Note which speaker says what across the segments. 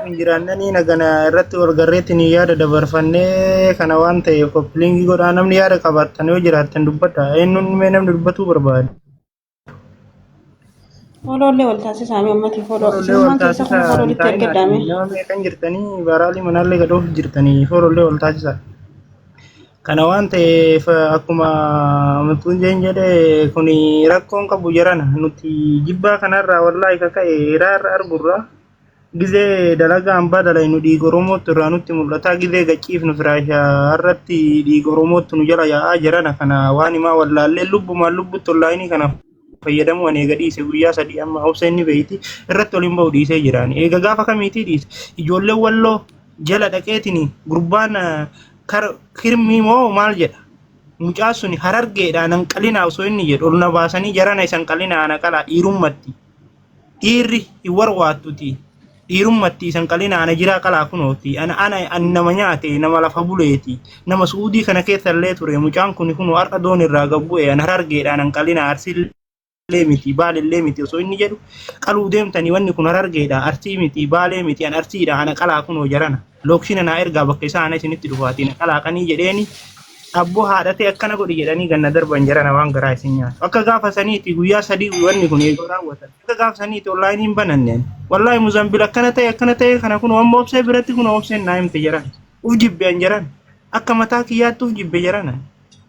Speaker 1: hin jiraannanii nagana irratti wal garreetiin yaada dabarfannee kana waan ta'eef koppilingi godhaa namni yaada qabaattan yoo jiraattan dubbadha eenyuun mee namni dubbatuu barbaade. Foolollee wal taasisaa mee ummati fooloo
Speaker 2: Foolollee wal isinummaan keessa kun taasisaa
Speaker 1: fooloo hin itti taa'inaa ergaddaame. nama meeqan jirtanii baraalii manaallee gadoof jirtanii foolollee wal taasisaa. Kana waan ta'eef akkuma mutuun jeen jedhe kuni rakkoon qabu jarana nuti jibbaa kanarraa wallaahi kaka'e hiraarra argurraa. Gizee dalagaa hambaa dalaynu dhiiga Oromootu irraa nutti mul'ata. Gizee gachiifnu firaasha irratti dhiiga Oromootu nu jala yaa'aa jirana kana waan himaa wallaallee lubbumaan lubbutti onlaayinii kana fayyadamuu ani eega dhiise guyyaa sadii amma obsa inni beeyti irratti waliin ba'u dhiisee jiraan. Eega gaafa kamiitii dhiise ijoollee walloo jala dhaqeetiin gurbaan kar kirmii moo maal jedha mucaan suni harargeedha nan qalinaa osoo inni jedhu ol na baasanii jarana isan qalinaa ana qalaa dhiirummatti. Dhiirri hin warwaattuti. Dhiirummatti isan qalina ana jiraa qalaa kunooti. Ana ana ani nama nyaate nama lafa buleeti. Nama su'uudii kana keessa illee ture mucaan kun kunoo har'a doon irraa gad bu'e ana harargeedhaan an qalina arsii illee miti baal illee miti osoo inni jedhu qaluu deemtanii wanni kun harargeedha arsii miti baalee miti an arsiidha ana qalaa kunoo jarana. Lookshiina naa ergaa bakka isaa ana isinitti dhufaatii na qalaaqanii jedheeni abboo haadhatee akkana godhi jedhanii ganna darban jarana waan garaa isin nyaatu. Akka gaafa saniiti guyyaa sadii wanni kun eeguu raawwatan. Akka gaafa saniiti onlaayinii hin bananneen. Wallaahi Muzambil akkana ta'e akkana ta'e kana kun amma obsee biratti kun obseen naa himte jaran. Uf jibbe an jaran. Akka mataa kiyyaatti uf jibbe jarana.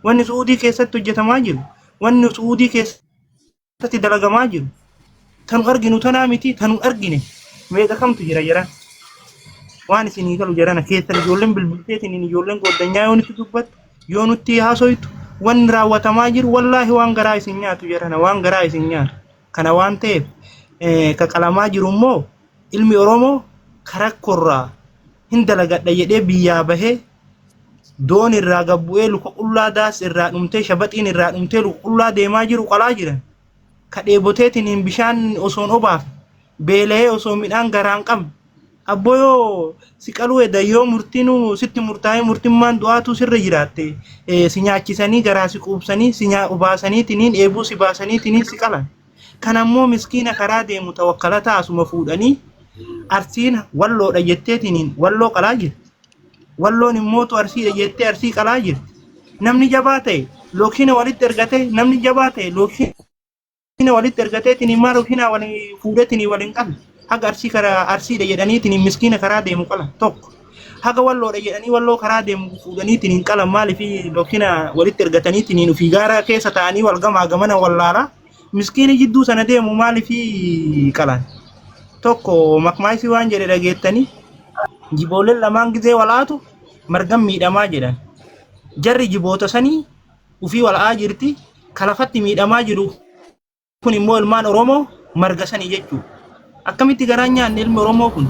Speaker 1: Wanni Su'uudii keessatti hojjetamaa jiru. Wanni Su'uudii keessatti keessatti dalagamaa jiru tanu arginu tanaa miti tanu argine meeqa kamtu jira jaran waan isinii galu jarana keessan ijoolleen bilbilteetiin ijoolleen goddanyaa yoo nutti dubbattu yoo nutti haasoytu wanni raawwatamaa jiru wallaahi waan garaa isin nyaatu jarana waan garaa isin nyaatu kana waan ta'eef eh, ka qalamaa jiru immoo ilmi oromoo ka rakkorraa hin dalagadha jedhee biyyaa bahee doon irraa gabbu'ee luka qullaa daas irraa dhumtee shabaxiin irraa dhumtee luka qullaa deemaa jiru qalaa jiran ka dheeboteetiin hin bishaan osoon obaaf beela'ee osoo midhaan garaan qabne abboo yoo si qaluu eda yoo murtiinuu sitti murtaa'ee murtimmaan du'aatuu sirra jiraatte eh, si nyaachisanii garaa si quubsanii si nyaa- obaasaniitiniin eebuu si baasaniitiniin si qalan kan ammoo miskiina karaa deemu tawakkalataa asuma fuudhanii arsiin walloodha jetteetiniin walloo qalaa jirti. Walloon hin mootu Arsiidha jettee Arsii qalaa jirti. Namni jabaa ta'e lookshiina walitti ergatee namni jabaa ta'e lookshiina walitti ergatee tiniin maa lookshiinaa waliin fuudhee tiniin waliin qala. Haga Arsii karaa Arsiidha jedhanii tiniin miskiina karaa deemu qala tokko. Haga walloodha jedhanii walloo karaa deemu fuudhanii tiniin qala maaliif lookshiina walitti ergatanii tiniin ofii gaaraa keessa taa'anii wal gamaa gamana wallaalaa. Miskiini jidduu sana deemu maaliifii qalan? Tokko makmaayisii waan jedhe dhageettanii jibooleen lamaan gizee wal'aatu margan miidhamaa jedhan. Jarri jiboota sanii ufii wal'aa jirti kalafatti miidhamaa jiru kun immoo ilmaan Oromoo marga sanii jechuudha. Akkamitti garaan nyaanne ilmi Oromoo kun?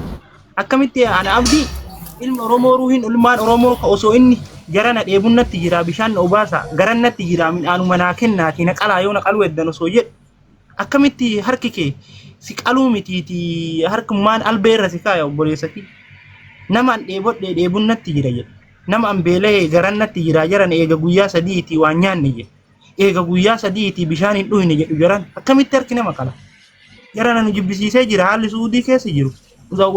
Speaker 1: Akkamitti ana abdii ilma Oromoo ruuhin ilmaan Oromoo ka osoo inni gara na dheebun natti jira bishaan na obaasa garan natti jira midhaanuma naa kennaati na qalaa yoo na qaluu eddan osoo jedhu akkamitti harki kee si qaluu mitiiti harkummaan albee irra si kaaya obboleessati nama an dheebodhee dheebun natti jira jedhe nama an beela'ee garan natti jira jaran eega guyyaa sadiiti waan nyaanne jedhe eega guyyaa sadiitii bishaan hin dhuyne jedhu jaran akkamitti harki nama qala jara nanu jibbisiisee jira haalli su'uudii keessa jiru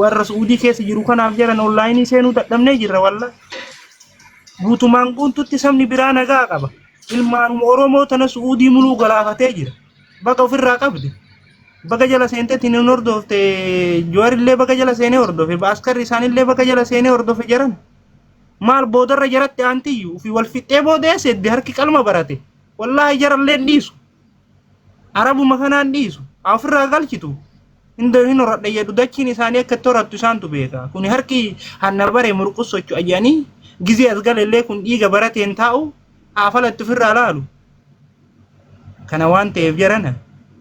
Speaker 1: warra su'uudii keessa jiru kanaaf jaran onlaayinii seenuu dadhabnee jirra walla guutumaan guututti sabni biraa nagaa qaba ilmaanuma oromoo tana su'uudii muluu galaafatee jira baga ofirraa qabde baga jala seentetti hin hordofte joorillee baga jala seenee hordofe baaskarri isaanillee baga jala seenee hordofe jaran maal boodarra jaratti aantiyyu fi wal fixxee boodee seddi harki qalma barate wallaahi jarallee hin dhiisu arabuma kanaan dhiisu haa ofirraa galchitu hindoo hin horadha jedhu dachiin isaanii akka itti horattu isaantu beeka kuni harki hanna bare murqus socho'a jedhanii gizee as galellee kun dhiiga barateen taa'u haa falatti ofirraa laalu kana waan ta'eef jarana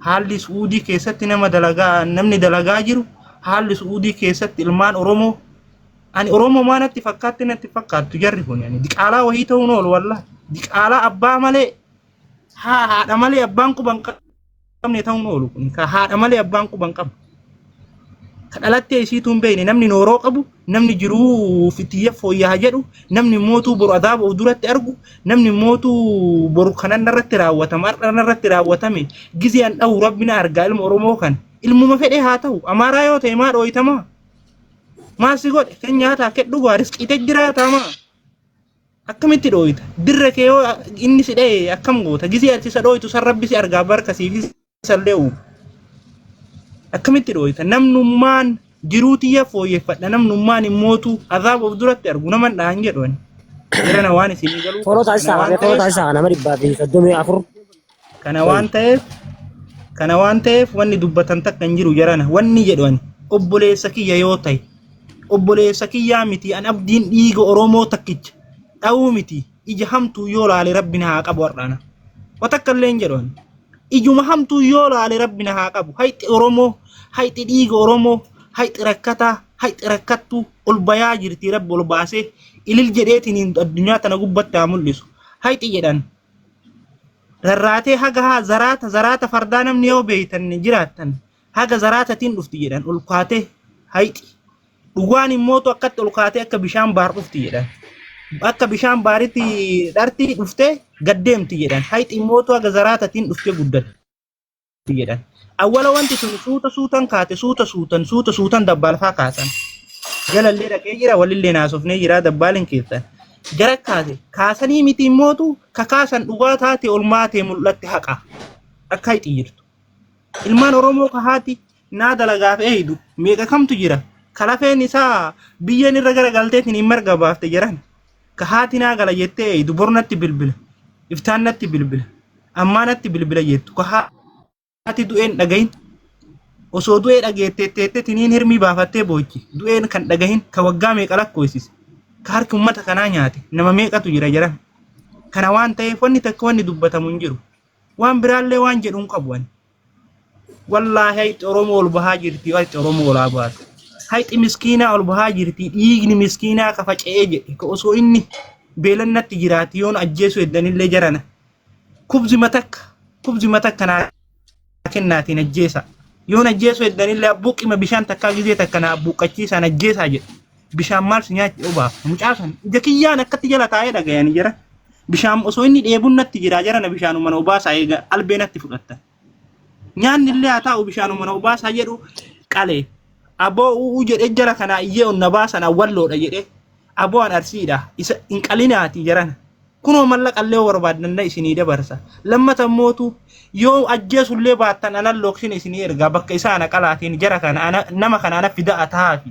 Speaker 1: haalli su'uudii keessatti nama dalagaa namni dalagaa jiru haalli su'uudii keessatti ilmaan oromoo Ani Oromoo maa natti fakkaatti natti fakkaattu jarri kun ani diqaalaa wayii ta'uun oolu wallaa. Diqaalaa abbaa malee haa haadha malee abbaan quban qabne ta'uun oolu kun ka haadha malee abbaan quban qabu. Ka dhalattee isiituu hin beekne namni nooroo qabu namni jiruu fitiyya fooyyaa jedhu namni mootuu boru adaaba of duratti argu namni mootuu boru kanan narratti raawwatama har'a narratti raawwatame gizee an dhahu rabbi na argaa ilma Oromoo kan ilmuma fedhee haa ta'u amaaraa yoo ta'e maa dhooytamaa. Maal si godhe? Kan nyaataa kee dhugaa risqiite jiraataa maa? Akkamitti dhooyta? Dirre kee yoo inni si dha'e akkam goota? Gisee ati isa dhooytu san rabbi si argaa barka siif isallee uumu. Akkamitti dhooyta? Namnummaan jiruu tiyya fooyyeffadha. Namnummaan hin mootu. Azaaba of duratti argu naman dhahan jedhu ani. Jirana waan isin galu. Fooloo taasisaa kana waan ta'eef- fooloo
Speaker 3: taasisaa kana nama dhibbaa fi soddomii afur kana Sorry. waan ta'eef
Speaker 1: kana waan ta'eef wanni dubbatan takka hin jiru jarana wanni jedhu ani obboleessa kiyya yoo ta'e obboleessa kiyyaa miti an abdiin dhiiga oromoo takkicha dha'uu miti ija hamtuu yoo laale rabbi na haa qabu har'aana wa takka illee hin jedhu ani ijuma hamtuu yoo laale rabbi na haa qabu hayxi oromoo hayxi dhiiga oromoo hayxi rakkataa hayxi rakkattuu ol bayaa jirti rabbi ol baasee ilil jedheetiin addunyaa tana gubbatti haa mul'isu hayxi jedhan Rarraatee haga haa zaraata zaraata fardaa namni yoo beeytan jiraattan haga zaraatatiin dhufti jedhan ol kaatee hayxi. Dhugaan immootu akkatti ol kaatee akka bishaan baar dhufti jedhan. Akka bishaan baaritti dharti dhuftee gad deemti jedhan. Hayxi immootu haga zaraatatiin dhuftee guddatte. jedhan. Awwala wanti sun suuta suutan kaate suuta suutan suuta suutan dabbaalfaa kaasan. Jalallee dhaqee jira walillee naasofnee jira dabbaaliin keessan. Gara kaase kaasanii miti immootu ka kaasan dhugaa taate olmaatee mul'atti haqa. Akka hixi jirtu. Ilmaan Oromoo ka haati naa dalagaaf eeydu meeqa kamtu jira ka lafeen isaa biyyeen irra gara galteetiin hin marga baafte jedhan ka haati naa gala jettee eeydu bor natti bilbila iftaan natti bilbila ammaa natti bilbila jettu ka haati du'een dhagahin osoo du'ee dhageetteetteetteetiin hin hirmii baafattee boochi du'een kan dhagahin ka waggaa meeqa lakkoofsise ka harki uummata kanaa nyaate nama meeqatu jira jedhan kana waan ta'eef wanni takka wanni dubbatamu hin jiru waan biraallee waan jedhu hin qabu ani Wallaahi hayxi Oromoo ol bahaa jirti hayxi Oromoo olaa baate. Hayxi miskiinaa ol bahaa jirti dhiigni miskiinaa ka faca'ee jedhe ka osoo inni beelannatti jiraati yoon ajjeesuu heddanillee jarana. Kubzi matakka kubzi matakka naa kennaatiin ajjeesaa. Yoon ajjeesuu heddanillee abbuuqqima bishaan takkaa gizee takka naa abbuuqqachiisaan ajjeesaa jedhe. bishaan maal si nyaachi obaaf mucaa san ija kiyyaan akkatti jala taa'ee dhagayanii jira bishaan osoo inni dheebuun natti jiraa jara na bishaanuma na obaasaa eega albee natti fudhatta nyaanni illee haa taa'u bishaanuma na obaasaa jedhu qale aboo u'uu jedhee jara kanaa iyyee onna baasan awwalloodha jedhee aboo an arsiidha isa hin qalinaati jarana kunoo mallaqa illee yoo barbaaddanna isinii dabarsa lammata mootu yoo ajjeesullee baattan anan looksina isinii ergaa bakka isaa ana qalaatiin jara kana ana- nama kana ana fida'a ta'aafi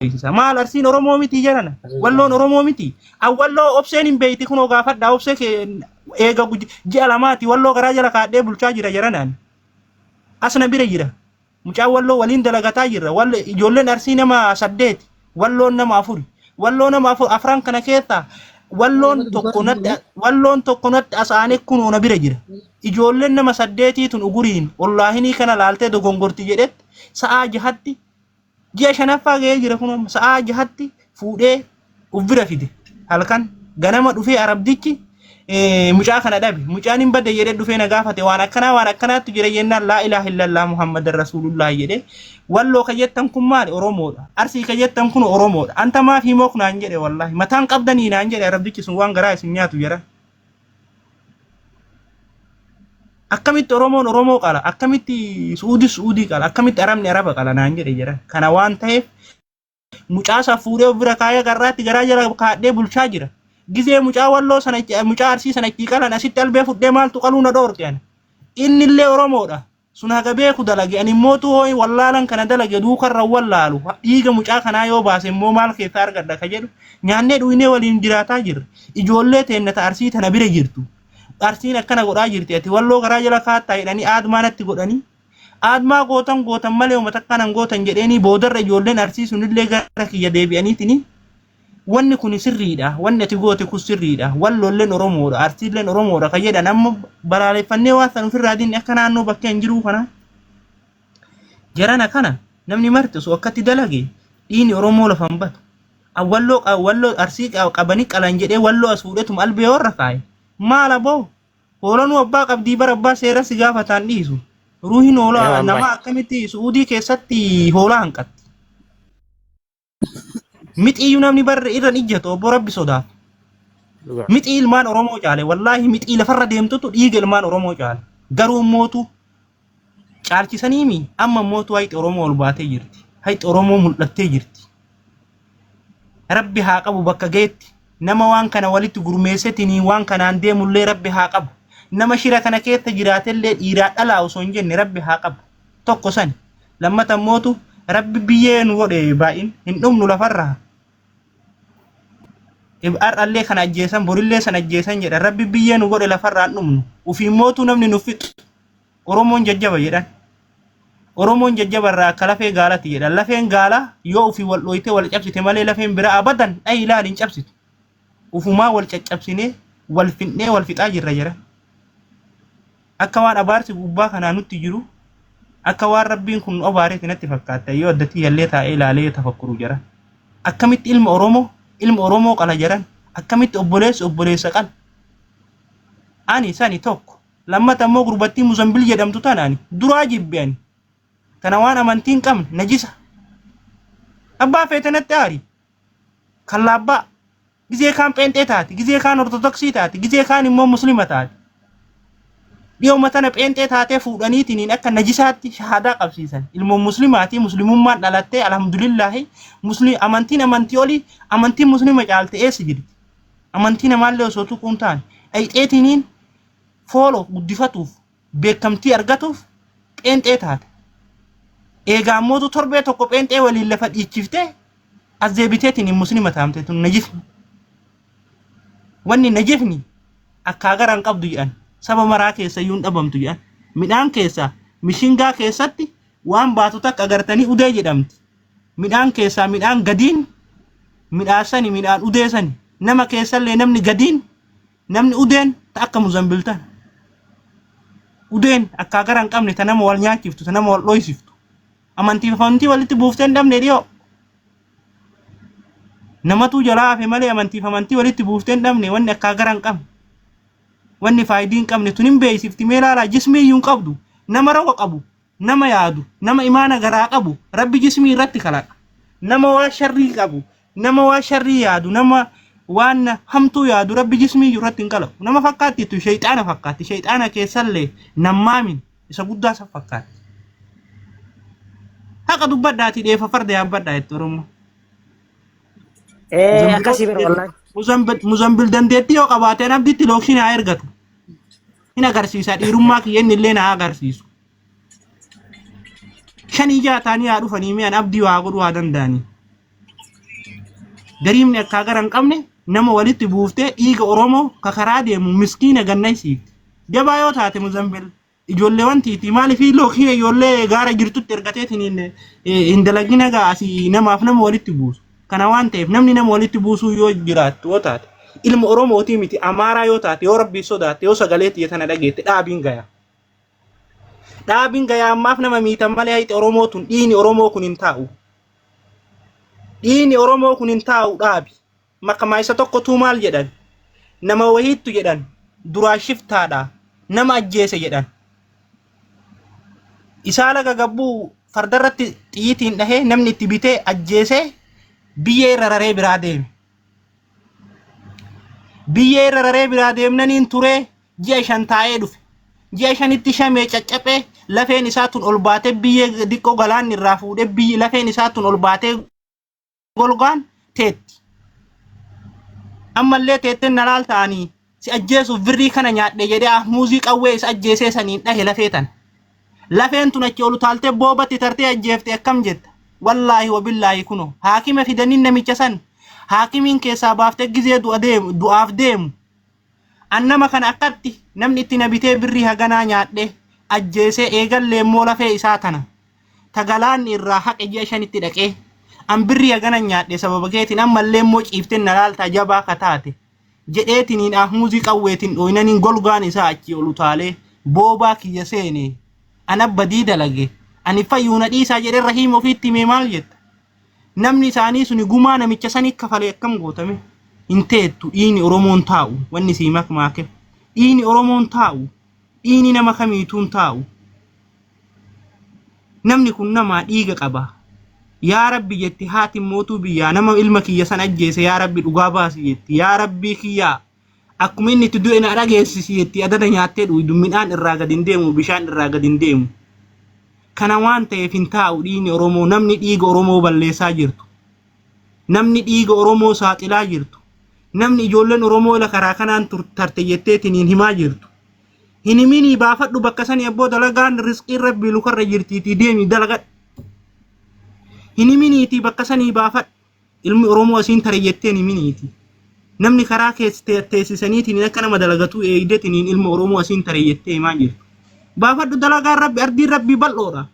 Speaker 1: beeksisa. Maal arsiin Oromoo miti jedhana. Walloon Oromoo miti. An walloo obseen hin beekti kunoo gaafadha obsee kee eega guj- ji'a lamaati walloo garaa jala kaadhee bulchaa jira jedhanaan. As na bira jira. Mucaan walloo waliin dalagataa jirra. Wallo ijoolleen arsii nama saddeeti. Walloon nama afuri. Walloo nama afur afran kana keessaa walloon tokko natti walloon tokko natti asaanee kunoo na bira jira. Ijoolleen nama saddeetii tun uguriin ollaahinii kana laaltee dogongorti jedhetti sa'aa jahatti ji'a shanaffaa ga'ee jira kun amma sa'aa jahatti fuudhee uf bira fide halkan ganama dhufee arabdichi eh, mucaa kana dhabe mucaan hin badde jedhee dhufee na gaafate waan akkanaa waan akkanaattu jira jennaan laa ilaaha illallah muhammadan rasuulullah jedhee walloo ka jettan kun maali oromoodha arsii ka jettan kun oromoodha anta maaf himook naan jedhe wallahi mataan qabdanii naan jedhe arabdichi sun waan garaa isin nyaatu jedhan Akkamitti Oromoon Oromoo qala? Akkamitti Su'uudis Su'uudii qala? Akkamitti Arabni Araba qala naan jedhe jira. Kana waan ta'eef mucaasaa fuudhee of bira kaayee garraatti garaa jala kaadhee bulchaa jira. Gizee mucaa walloo sana itti- mucaa arsii sana itti qalan asitti albee fudhee maaltu qaluu na dhoorge ani. Inni illee Oromoodha. sun haga beeku dalage ani mootu hooyi wallaalan kana dalage duukarra wallaalu dhiiga mucaa kanaa yoo baase immoo maal keessaa argadha ka jedhu nyaannee dhuynee waliin jiraataa jirra ijoollee teenna ta arsii tana bira jirtu arsiin akkana godhaa jirti ati walloo garaa jala kaattaa jedhanii aadmaa natti godhanii aadmaa gootan gootan malee uummata akkanan gootan jedheenii boodarra ijoolleen arsii sunillee gara kiyya deebi'aniitinii Wanni kuni sirriidha, wanni ati goote kun sirriidha, Walloolleen Oromoodha, Arsiilleen Oromoodha kan jedhan amma balaaleffannee waan san ofirraa diinne akka naannoo bakkee hin jiruu kana jarana kana namni marti osoo akkatti dalage dhiini Oromoo lafa hin batu. Walloo walloo arsii qabanii qalan jedhee walloo as fuudhetuma albee warra kaaye. Maal aboo? Hoolanuu abbaa qabdii bara abbaa seera si gaafataan dhiisu. Ruuhin hoolaa nama akkamitti su'uudii keessatti hoolaa hanqatti. Mixiiyyuu namni barre irra hin ijjatu obbo Rabbi sodaaf. Dhugaa. Mixii ilmaan Oromoo caale wallaahi mixii lafarra deemtutu dhiiga ilmaan Oromoo caale. Garuu mootu caalchisanii mi amma mootu hayxi Oromoo ol baatee jirti. Hayxi Oromoo mul'attee jirti. Rabbi haa qabu bakka geetti. Nama waan kana walitti gurmeessetinii waan kanaan deemullee Rabbi haa qabu. Nama shira kana keessa jiraatellee dhiiraa dhalaa osoo hin jenne Rabbi haa qabu. tokko sani lammata ammootu rabbi biyyee nu godhe baay'in hin dhumnu lafarraa har'allee kan ajjeesan borillee san ajjeesan jedhan rabbi biyyee nu godhe lafarraa hin dhumnu ufiin mootuu namni nu fixu oromoon jajjaba jedhan oromoon jajjaba irraa akka lafee gaalati jedhan lafeen gaalaa yoo ufiin wal dhooyte wal cabsite malee lafeen biraa abadan dhayi ilaali hin cabsitu Ufumaa wal caccabsinee, wal fixnee wal fixaa jirra jara. Akka waan abaarsi gubbaa kanaa nutti jiru, akka waan rabbiin kun nu abaareeti natti fakkaatta yoo addatti yallee taa'ee ilaalee yoo tafakkuru jara. Akkamitti ilma Oromoo, ilma Oromoo qala jaran, akkamitti obboleessi obboleessa qala. Ani sani tokko. Lammata immoo gurbattii Muzambil jedhamtu tana ani duraa jibbe ani. Tana waan amantii hin qabne, najisa. Abbaa feete natti aari. kallaabbaa gizee kaan pheenxee taati gizee kaan ortodoksii taati gizee kaan immoo muslima taati dhiyooma tana pheenxee taatee fuudhaniitiin akka najisaatti shahaadaa qabsiisan ilmoon muslimaatii muslimummaan dhalattee alhamdulillaahi muslim amantiin amantii olii amantiin muslima caalte eessa jirti amantii namaallee osoo tuquun taane dhayxeetiniin foolo guddifatuuf beekamtii argatuuf pheenxee taate. Eegaa ammootu torbee tokko pheenxee waliin lafa dhiichiftee as deebiteetiin muslima taamte tun najisni. Wanni najisni akkaa gara hin qabdu jedhan saba maraa keessa iyyuu hin dhabamtu jedhan midhaan keessaa mishingaa keessatti waan baatu takka agartanii udee jedhamti. Midhaan keessaa midhaan gadiin midhaasani midhaan udeesani nama keessallee namni gadiin Namni udeen ta akka muzambil tan. Udeen akkaa gara hin qabne ta nama wal nyaachiftu ta nama wal dhoysiftu. Amantiif amantii walitti buuftee hin dhabne dhiyoo. Namatuu jalaa hafe malee amantiif amantii walitti buuftee hin dhabne wanni akkaa gara hin qabne. Wanni faayidii hin qabne tun hin beeksifti mee laalaa jismii iyyuu hin qabdu nama roga qabu nama yaadu nama imaana garaa qabu rabbi jismii irratti kalaqa nama waa sharrii qabu nama waa sharrii yaadu nama waan hamtuu yaadu rabbi jismii irratti hin kalaqu nama fakkaatti jettu shayxaana fakkaatti shayxaana keessallee nammaamin isa guddaa san fakkaatti haqa dubbadhaati dheefa farda yaabbadhaa jettu oromoo
Speaker 3: Eh, akkasii bara wallahi. Muzambil
Speaker 1: dandeettii yoo qabaate abditti lookshiin haa ergatu. hin agarsiisa dhiirummaa kiyya inni illee naa agarsiisu. Shanii ja'a taanii haa dhufanii mi'an abdii waa godhuu haa danda'anii. Gariimni akkaa gara hin qabne nama walitti buuftee dhiiga Oromoo ka karaa deemu miskiina ganna isiifti. Jabaa yoo taate Muzambil ijoolleewwan tiitii maaliif lookii ijoollee gaara jirtutti ergateetiin hin dalagina gaa asii namaaf nama walitti buusu. Kana waan ta'eef namni nama walitti buusuu yoo jiraattu yoo taate ilma Oromootii miti Amaaraa yoo taate yoo rabbii sodaatte yoo sagalee tiyya tana dhageette dhaabiin gayaa. Dhaabiin gayaa ammaaf nama miitan malee hayxi Oromoo tun dhiini Oromoo kun hin taa'u. Dhiini Oromoo kun hin taa'u dhaabi. Makamaa isa tokkotuu maal jedhan? Nama wahiittu jedhan duraa shiftaadha. Nama ajjeese jedhan. isaa laga gabbuu fardarratti xiyyitiin dhahee namni itti bitee ajjeesee biyyee irra raree biraa deeme. Biyyee irra raree biraa deemnaniin turee ji'a shan taa'ee dhufe. Ji'a shanitti shamee caccaphee lafeen isaa tun ol baatee biyyee diqqoo galaanni irraa fuudhee biyyi lafeen isaa tun ol baatee golgaan teetti. Ammallee teettee na laal ta'anii si ajjeesuuf birrii kana nyaadhe jedhee ahmuuzii qawwee isa ajjeesee saniin dhahe lafee tana. Lafeen tun achi ol taaltee boobatti tartee ajjeefte akkam jetta. Wallaahi wabillaahi kuno haakima fidanii namicha san haakimiin keessaa baaftee gizee du'aaf deemu An nama kana akkatti namni itti na bitee birrii haganaa nyaadhee, ajjeesee, eegallee immoo lafee isaa tana ta galaanni irraa haqe ji'a shanitti dhaqee, an birrii hagana nyaadhe sababa keetiin ammallee immoo ciiftee na laaltaa jabaa ka taate jedheetiniin ahmuuzii qawweetiin dhooynaniin golgaan isaa achii ol utaalee boobaa kiyya seene. An abbadii dalage. Ani fayyuu na dhiisaa jedhee Rahiim ofiitti himee maal jetta? namni isaanii suni gumaa namicha sanii kafalee akkam gootame hin teettu dhiini oromoon taa'u wanni sii makmaake dhiini oromoon taa'u dhiini nama kamiituun taa'u namni kun namaa dhiiga qaba yaa rabbi jetti haati mootuu biyyaa nama ilma kiyya san ajjeese yaa rabbi dhugaa baasi jetti yaa rabbii kiyyaa Akkuma inni itti du'e na dhageessisi jetti adada nyaattee dhuudu midhaan irraa gad hin deemu bishaan irraa gad hin deemu. Kana waan ta'eef hin taa'u dhiigni Oromoo namni dhiiga Oromoo balleessaa jirtu. Namni dhiiga Oromoo saaxilaa jirtu. Namni ijoolleen Oromoo la karaa kanaan tur- tarte jetteetiin hin himaa jirtu. Hin himinii baafadhu bakka sanii abboo dalagaan risqiin rabbii lukarra jirtiitii deemi dalagadhu. Hin himiniitii bakka sanii baafadhu. Ilmi Oromoo asiin tare jetteen himiniiti. Namni karaa keessa te- teessisaniitiin akka nama dalagatuu eegdetiniin ilma Oromoo asiin tare jettee himaa jirtu. Baafadhu dalagaan rabbi ardiin rabbii bal'oodha.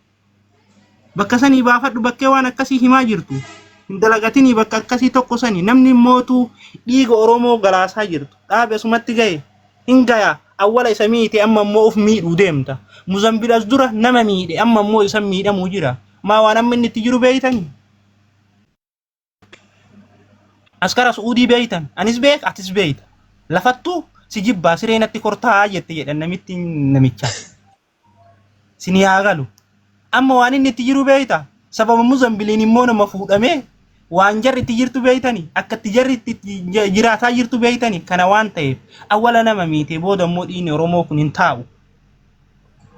Speaker 1: Bakka sanii baafadhu bakkee waan akkasii himaa jirtu. Hin dalagatinii bakka akkasii tokko sanii namni mootuu dhiiga Oromoo galaasaa jirtu. Dhaabe asumatti gahe hin gaya awwala isa miite amma immoo of miidhuu deemta. Muzambil as dura nama miidhe amma immoo isan miidhamuu jira. Maa waan amma inni itti jiru beeytanii? Askara Su'uudii beeytan, anis beek, atis beeyta. Lafattuu si jibbaa siree natti kortaa jette jedhan namitti namichaa. Sin yaa galu. Amma waan inni itti jiru beeyta. Sababa Muzambiliin immoo nama fuudhamee waan jarri itti jirtu beeytani akka itti jarri itti j- jiraataa jirtu beeytani kana waan ta'eef awwala nama miite booda immoo dhiigni Oromoo kun hin taa'u.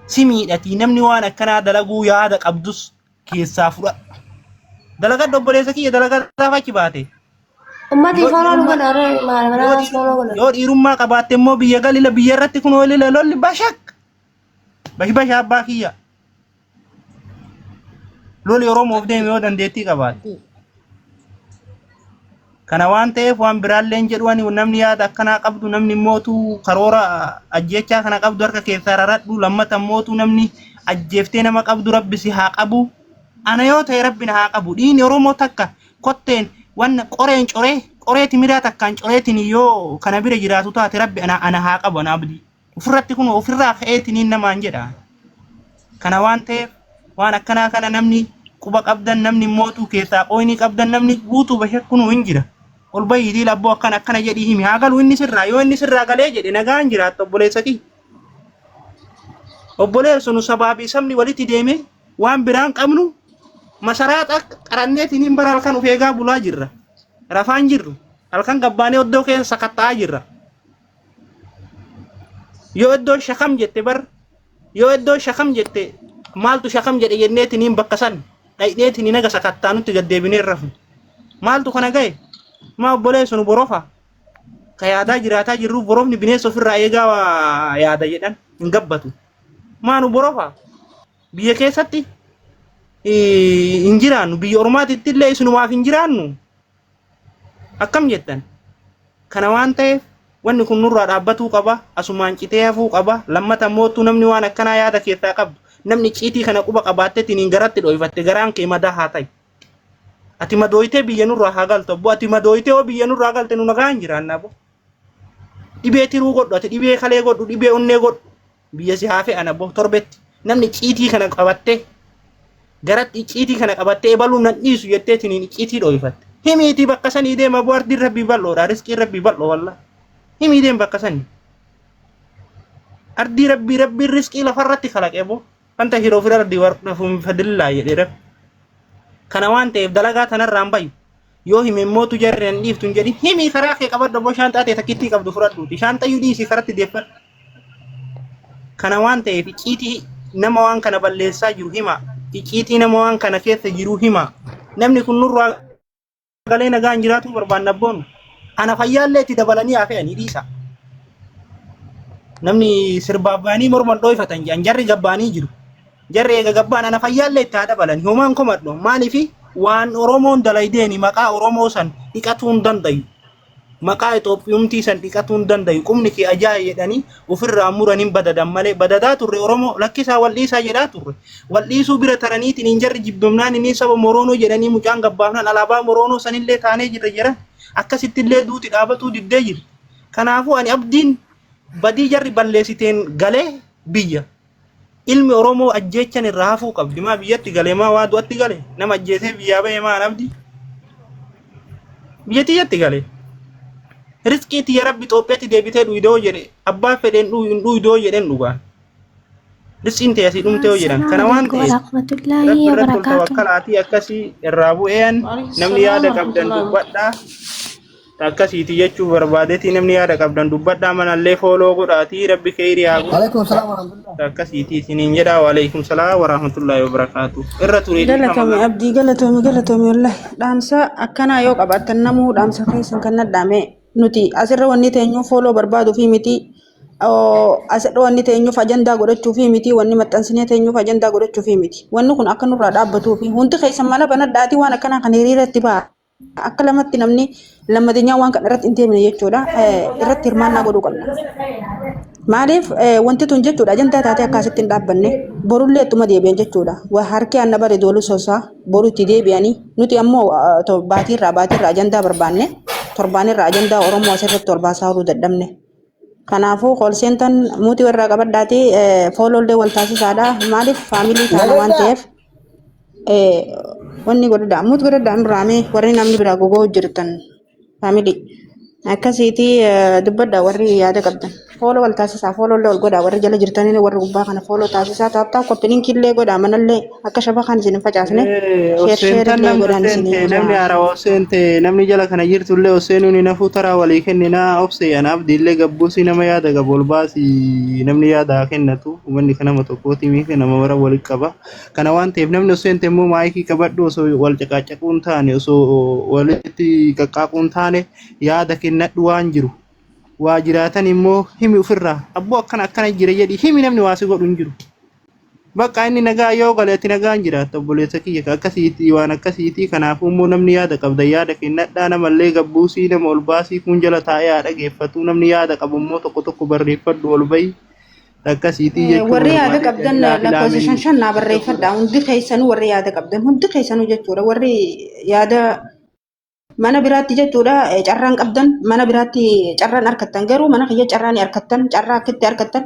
Speaker 1: Si miidhatii namni waan akkanaa dalaguu yaada qabdus keessaa fudhadha. Dalagadhu obboleessa kiyya dalagataaf achi baate. Ummati Yoo
Speaker 2: faraa dhiirummaa- dhugan aree Yoo maal manaa dhiir- sooloo godhan. Yoo dhiirummaa
Speaker 1: qabaatte immoo biyya galila biyya irratti kun olila lolli bashak. Bash bash abbaa kiyya. Loli Oromoof deeme yoo dandeettii qabaatte. Kana waan ta'eef waan biraalleen jedhu ani namni yaada akkanaa qabdu namni mootu karoora ajjechaa kana qabdu harka keessaa raradhu lammata mootu namni ajjeeftee nama qabdu rabbi si haa qabu ana yoo ta'e rabbi na haa qabu dhiini oromoo takka kotteen wanna qoreen coree qoree timiraa takkaan coreetiin yoo kana bira jiraatu taate rabbi ana ana haa qabu ana abdii. ofirratti kun ofirraa ka'eetiniin namaan jedha. Kana waan ta'eef waan akkanaa kana namni quba qabdan namni mootuu keessaa qooyinii qabdan namni guutuu bashar kunuu hin jira. Ol bahiitii labboo akkana akkana jedhii himi haa galu inni sirraa yoo inni sirraa galee jedhe nagaan jiraatta obboleessatii. Obboleessu nu sabaa fi sabni walitti deeme waan biraan qabnu masaraa qaranneetiin hin bara halkan of eegaa bulaa jirra. Rafaan jirru halkan gabbaanee oddoo keessa sakatta'aa jirra. yoo iddoon shakam jette bar yoo iddoon shakam jette maaltu shakam jedhe jenneetiin hin bakka san dhayneetiin hin aga sakattaa nutti gaddeebinee rafu maaltu kana gahe maa obboleessu nu borofa ka yaadaa jiraataa jirru borofni bineensa ofirraa eegaa waa yaada jedhan hin gabbatu maa nu borofa biyya keessatti eh, hin jiraannu biyya ormaatitti illee isinumaaf hin jiraannu Akkam jettan? Kana waan ta'eef wanni kun nurraa dhaabbatuu qaba, asumaan citee hafuu qaba. Lammata immoo utuu namni waan akkanaa yaada keessaa qabdu, namni icciitii kana quba qabaattetiniin garatti dho'ifatte garaan kee madaa haa ta'u. Ati madooytee biyya nurraa haa galtu abbo, ati madooytee yoo biyya nurraa galte nu nagaan jiraanna abbo. Dhibee tiruu godhu, ati dhibee kalee godhu, dhibee onnee godhu. biyya si haafee ana bo torbetti namni icciitii kana qabattee garatti icciitii kana qabattee ebaluu nan dhiisu jettee tiniin icciitii dhooyfatte himiitii bakka sanii deema bo ardiin rabbii bal'oodha riskiin rabbii bal'oo walla himii deem bakka sanii ardii rabbii rabbiin riskii lafarratti kalaqee bo wanta hiroo fira ardii warqafuun fadillaa jedhee rabbi kana waan ta'eef dalagaa tanarraan bayyu yoo hime immoo tu jarri hin dhiiftu hin jedhin himi karaa kee qabadhu abboo shaanxaa ta'e takkittii qabdu fudhadhuuti shaanxayyuu dhiisii karatti deeffadhu kana waan ta'eef icciitii nama waan kana balleessaa jiru hima icciitii nama waan kana keessa jiru hima namni kun nurraa galee nagaan jiraatuu barbaanna abboonu ana fayyaallee itti dabalanii haa fe'anii dhiisa namni sirbaabbaanii morman dhooyfatan jedhan jarri gabbaanii jiru Jarri eega gabbaan ana fayyaallee itti haa dabalani. Homaan komadhu. Maaliifi waan Oromoon dalaydeeni maqaa Oromoo san dhiqatuu hin dandayu. Maqaa Itoophiyumtii san dhiqatuu hin dandayu. Qubni kee ajaaye jedhanii ofirraa muran hin badadan malee badadaa turre Oromoo lakkisaa wal dhiisaa jedhaa turre. Wal dhiisuu bira taraniitiin hin jarri jibbamnaan inni saba Moroonoo jedhanii mucaan gabbaafnaan alaabaa Moroonoo sanillee taanee jirra jedhan. Akkasittillee duuti dhaabatuu diddee jirti. Kanaafuu ani abdiin badii jarri balleessiteen galee biyya. Ilmi Oromoo ajjeechan irraa hafuu qabdi. Maa biyyatti gale maa waa du'atti gale nama ajjeesee biyyaa ba'e maa nabdi. Biyya tiyyatti gale. Rizqii tiyya rabbi Itoophiyaatti deebitee dhuydoo jedhe abbaa fedheen dhuydoo jedheen dhugaan. Rizqiin tiyya si dhumtee yoo jedhan kana waan ta'eef rabbi irratti ol tawakkalaatii akkasii irraa bu'een namni yaada qabdan dubbadhaa. akkasiiti jechuuf barbaadetii namni yaada qabdan dubbadhaa manallee fooloo godhaatii rabbi keeyri haa godhu Alaikum salam wa rahmatullah. akkasiiti isiniin jedhaa waaleykum salaa warahmatullaahi wabarakaatu irra turee Galatoomi dhiifama abdii galatoomi
Speaker 4: galatoomi wallahi dhaamsa akkanaa yoo qabaattan namuu dhaamsa keessan kan nadhaame nuti asirra wanni teenyuu fooloo barbaaduu fi miti oo, asirra wanni teenyuuf ajandaa godhachuu fi miti wanni maxxansinee teenyuuf ajandaa godhachuu fi miti wanni kun akka nurraa dhaabbatuu fi hundi keessan mala banadhaatii waan akkanaa kan hiriira itti ba'a. Akka lamatti namni lammateenyaa waan kana irratti hin deemne jechuudha. Irratti hirmaannaa godhuu qabna. Maaliif wanti tun jechuudha ajandaa taatee akkaasitti hin dhaabbanne borullee ittuma deebi'an jechuudha. Waa harki anna bare doolu sosaa boru itti deebi'anii nuti ammoo baatiirraa baatiirraa ajandaa barbaanne torbaanirraa ajandaa Oromoo asirratti torbaasaa horuu dadhabne. Kanaafuu koolseentan muutii warraa qabadhaatii foolollee wal taasisaadha. Maaliif faamilii taana waan ta'eef. wanni godhadha ammut godhadha nurraamee warri namni biraa gogoo hojjettan faamilii akkasiiti dubbadha warri yaada qabdan fooloo wal taasisaa fooloo illee wal godhaa warri jala jirtanii warri gubbaa kana fooloo taasisaa taaptaa koppilinkii illee godhaa manallee akka shabakaan isin hin facaasne sheer sheer Oseentan illee namni godhaan isin oseente namni ijaa haaraa oseente
Speaker 1: namni jala kana jirtu illee oseenuun hin hafuu taraa walii kenninaa obse anaaf diillee gabbuusii nama yaada qabu ol baasii namni yaada haa kennatu. Uummanni kan nama tokkooti miti nama mara walitti qaba. Kana waan ta'eef namni osoo seente immoo maayikii qabadhu osoo wal caqaacaquu hin taane osoo walitti qaqqaaquu hin taane yaada kennadhu waan jiru. Waa jiraatan immoo himi ofirraa abboo akkana akkana jira jedhi himi namni waa si godhu hin jiru. Bakka inni nagaa yoo gale ati nagaan jiraatta obboleessa kiyya ka akkasiitii waan akkasiitii kanaafuu immoo namni yaada qabda yaada kennadhaa namallee gabbuusii nama ol baasii kuun jala taa'ee haa dhageeffatu namni yaada qabu immoo tokko tokko barreeffadhu ol bahi. Akkasiitii jechuun warri yaada barbaade qabdan
Speaker 4: ilaa lakkoofsa shan filaameen shan naa barreeffadha hundi keessanuu warri yaada qabdan hundi keessanuu jechuudha warri yaada mana biraatti jechuudha eh, carraan qabdan mana biraatti carraan arkattan garuu mana kiyya carraan hin arkattan carraa akkitti arkattan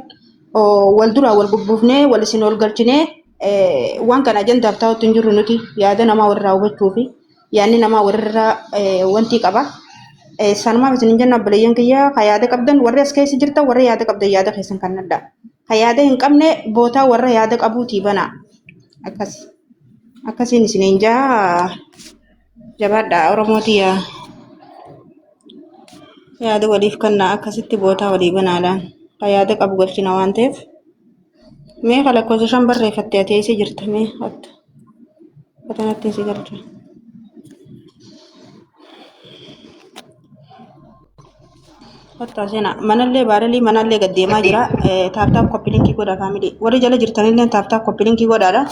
Speaker 4: oh, wal duraa wal bubbuufnee wal isin ol galchinee eh, waan kana ajandaaf taa'utti hin jirru nuti yaada namaa walirraa hubachuufi. yaanni namaa walirra eh, wanti qaba. Eh, Sanumaaf isin hin jenna obboleeyyan kiyya ka yaada qabdan warri as keessa jirtan warri yaada qabdan yaada keessan kan adda. Ka yaada hin qabne bootaa warra yaada qabuutii banaa. Akkas akkasiin isin hin jaa jabaadha Oromootii yaa yaada waliif kennaa akkasitti bootaa walii banaadhaan ka yaada qabu galchina waan ta'eef. Mee ka lakkoofsa shan barreeffatte ati eessa jirta mee akka kanatti si galchu. Kottaa seenaa manallee baaralii manallee gad deemaa jira taaptaap koppilinkii godha faamilii warri jala jirtanillee taaptaap koppilinkii godhaadha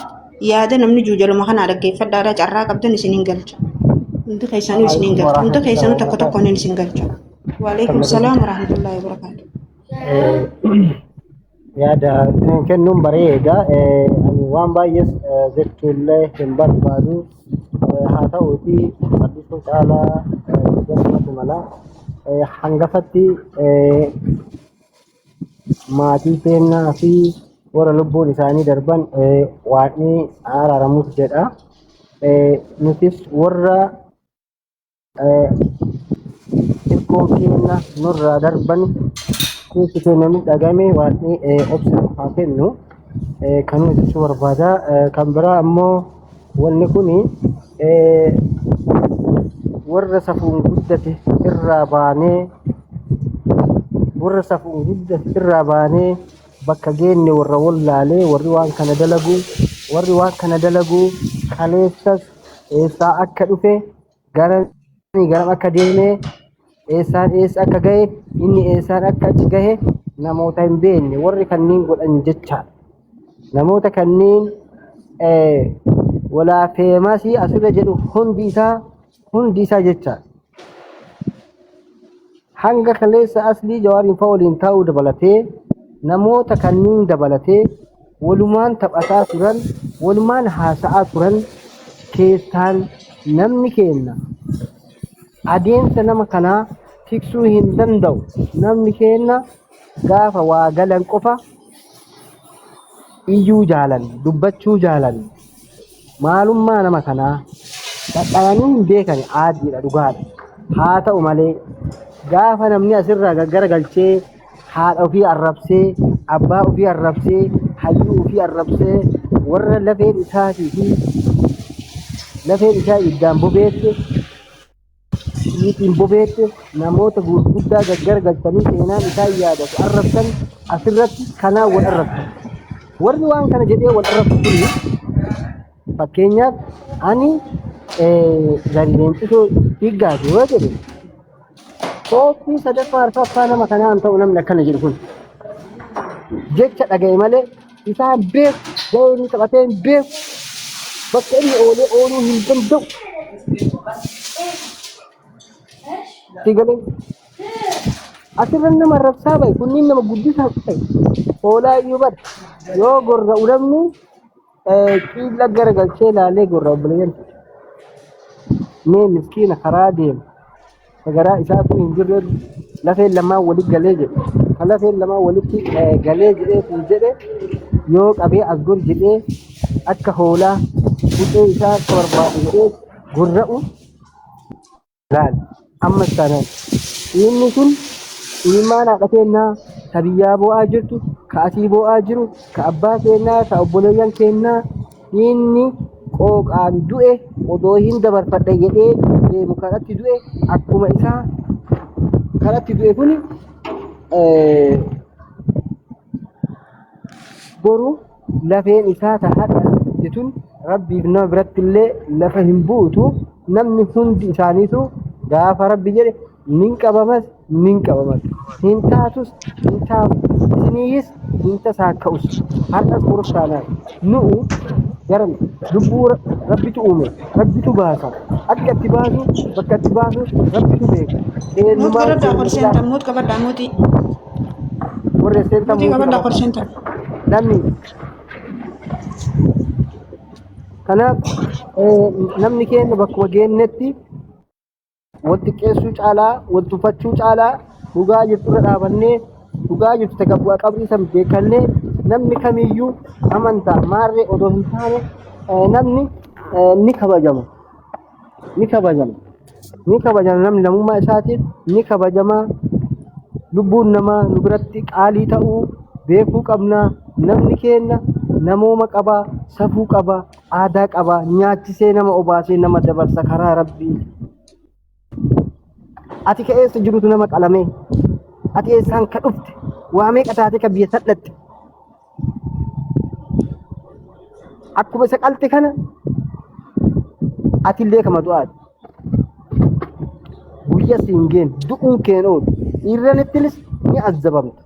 Speaker 4: yaada namni juu jaluma kanaa dhaggeeffadhaadha carraa qabdan isin hin galcha. Hundi keessanuu isin hin galcha hundi keessanuu tokko tokkoon isin galcha. Waalaikum salaam warahmatullahi wabarakatuh.
Speaker 3: yaada ittiin kennuun bareeda. Eh, Ani waan baay'ees eh, jechuullee hin barbaadu. Eh, Haa ta'uutii barsiisuu caalaa eh, hojjetamatu mala. Eh, Hangafatti eh, maatii keenyaa fi warra lubbuun isaanii darban eh, waaqni araaramuuf jedha. Eh, Nutis warra Hirkoo keenya nurraa darban keessi keenya miidhagame waaqni obsa haa kennu kan hojjechuu barbaada. Kan biraa ammoo wanni kun warra safuun guddate irraa baanee warra safuun guddate irraa baanee bakka geenne warra wallaalee warri waan kana dalagu warri waan kana dalagu kaleessas eessaa akka dhufe garam garam akka deeme eessaan eessa akka gahe inni eessaan akka achi gahe namoota hin beekne warri kanneen godhan jechaadha. Namoota kanneen walaa feemasii asirra jedhu hundi isaa hundi isaa jechaadha. Hanga kaleessa aslii jawaariin fa'a waliin taa'uu dabalatee namoota kanneen dabalatee walumaan taphataa turan walumaan haasa'aa turan keessaan namni keenna adeemsa nama kanaa tiksuu hin danda'u namni keenna gaafa waa galan qofa iyyuu jaalan dubbachuu jaalan Maalummaa nama kanaa dhadhayanii hin beekani aaddiidha dhugaadha. Haa ta'u malee gaafa namni asirraa gaggara galchee haadha ofii arrabsee abbaa ofii arrabsee hayyuu ofii arrabsee warra lafeen isaatii fi lafeen isaa iddaan bobeesse Niitiin bobeette namoota gurguddaa gaggargalchanii seenaan isaan yaadatu arrabsan asirratti kanaan wal arrabsu. Warri waan kana jedhee wal arrabsu kun fakkeenyaaf ani gadi leencisoo dhiiggaati yoo jedhe kooppii sadaffaa arfaffaa nama kanaan ta'u namni akkana jedhu kun jecha dhaga'e malee isaa hin beeku, gahee inni taphatee hin beeku, bakka inni oolee ooluu hin danda'u. Sii galee asirra nama arrabsaa bahe kunniin nama guddisaa bahe hoolaa iyyuu bara yoo gorra ulamni ciilla gara galchee laalee gorra obboleeyyan mee miskiina karaa deemu ka garaa isaatuu hin jirre lafeen lamaan walitti galee jedhe ka lafeen lamaan walitti eh, galee jedhee kun jedhe yoo qabee as gor jedhee akka hoolaa bu'ee isaa akka barbaadu jedhee gorra'u laal ammas taanaan inni kun ilmaan haadha keennaa ka biyyaa boo'aa jirtu ka asii boo'aa jiru ka abbaa keennaa ka obboleeyyan keennaa Dhiigni qooqaan du'e odoo hin dabarfadhe jedhee deemu kanatti du'e akkuma isaa kanatti du'e kun boru lafeen isaa ta hadha jetun rabbiif nama biratti illee lafa hin buutu namni hundi isaaniitu gaafa rabbi jedhe Nin qabamas nin qabamas. Hin taatus hin taatu. Isiniihis hin tasaakka'us. Har'as borus taanaan. Nu'u garan lubbuu Rabbitu uume. Rabbitu baasa. Akka itti baasu bakka itti baasu Rabbitu beeka. Muut Eenyumaa godhadhaa
Speaker 4: kol seentan eenyumaa muut qabadhaa muutii.
Speaker 3: warra seentan Muutii muutii qabadhaa kol qabata.
Speaker 4: seentan. Namni
Speaker 3: kanaaf eh, namni keenya bakkuma geennetti wal xiqqeessuu caalaa wal tuffachuu caalaa dhugaa jirtu irra dhaabannee dhugaa jirtu takka bu'aa qabrii san beekannee namni kamiyyuu amantaa maarree odoo hin taane eh, namni eh, ni kabajama ni kabajama ni kabajama namni lammummaa isaatiif ni kabajama lubbuun namaa nu biratti qaalii ta'uu beekuu qabna namni keenna namooma qaba safuu qaba aadaa qaba nyaachisee nama obaasee nama dabarsa karaa rabbii ati ka eessa jirutu nama qalamee ati eessaan ka dhufte waa meeqa taatee ka biyya sadhatte akkuma isa qalte kana ati illee kama du'aati guyya siin geen du'uun keen oolu dhiirranittinis ni azzabamta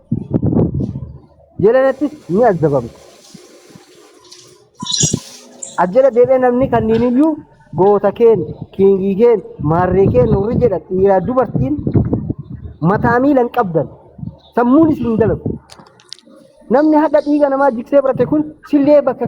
Speaker 3: jalanattis ni azzabamta Ajjala deebi'ee namni kanneen iyyuu goota keen, kiingii keen, maarree keen warri jedhan dhiiraa dubartiin mataa miila hin qabdan. Sammuun isin hin dalagu. Namni hadha dhiiga namaa jiksee barate kun sillee bakka